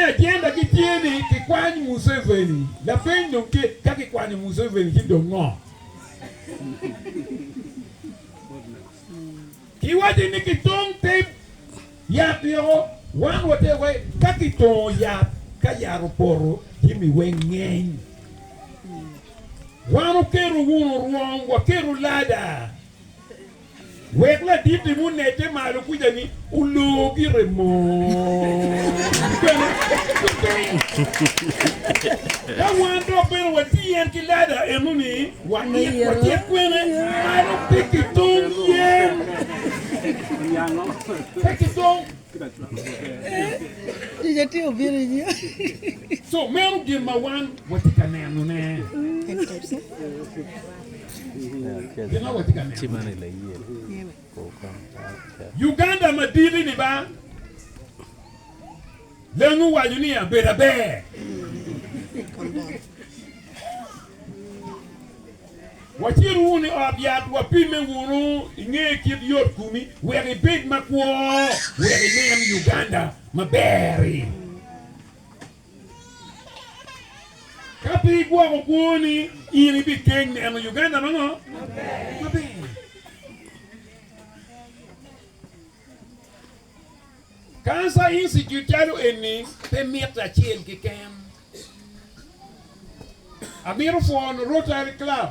Ajenda gi tye ni kikwany Museveni. Lapeny dong tye, ka kikwanyo Museveni ci dong ngo? Kiwaco ni kitong te yat yoko, wan watye wai ka kitongo yat ka yat opoto jami weng ngeny. Wan oketo wunu rwom, waketo lada. Wek laditi munedde malo kwica ni oloo gire mot bene lutiny. Ka wan dok bene watiyo en ki lada eno ni watit watit kwene malo pe ki tong yen pe ki tong. So meno gin ma wan watye ka nenone. Uganda maditi ni ba lengu waco ni abedo aber. Wacit wunu i ot yat wapimme wunu inge kit yot komi wek ibed makwo wek inen Uganda maber-ri. Ka pe igwoko kwoni, in ibikeng neno Uganda ma ngo? Maber. Cancer Institute calo eni pe mitte acel keken. Amito pwono Rotary Club.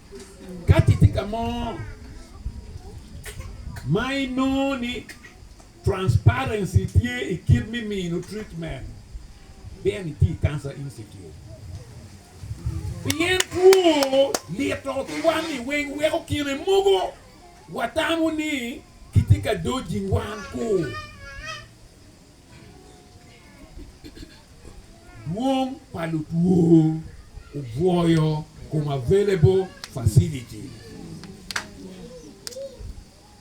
Ka ci tye ka mo ma inongo ni transparency tye i kit me mino treatment, ben iti i Cancer Institute. Pien two lito kwan-ni weng weko kine mogo watamo ni kitye ka dojing wan-ku. Dwong pa lutwo obwoyo kom available facility.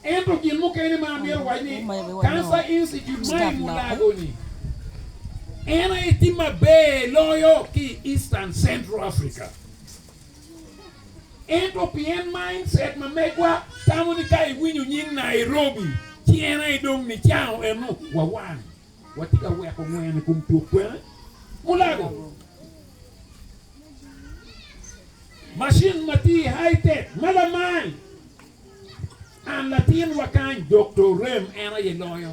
Ento gin mukene ma amito wac ni Cancer Institute ma i Mulago ni en aye tye maber loyo ki i Eastern Central Africa. Ento pien mindset ma megwa tamo ni ka iwinyo nying Nairobi ci en aye dong nicango eno wa wang, watye ka weko ngwen i kom tuk kwene. Mulago, Macin ma tye i High Tech ma lamal and latinwa kany Dokto Orem en aye loyo.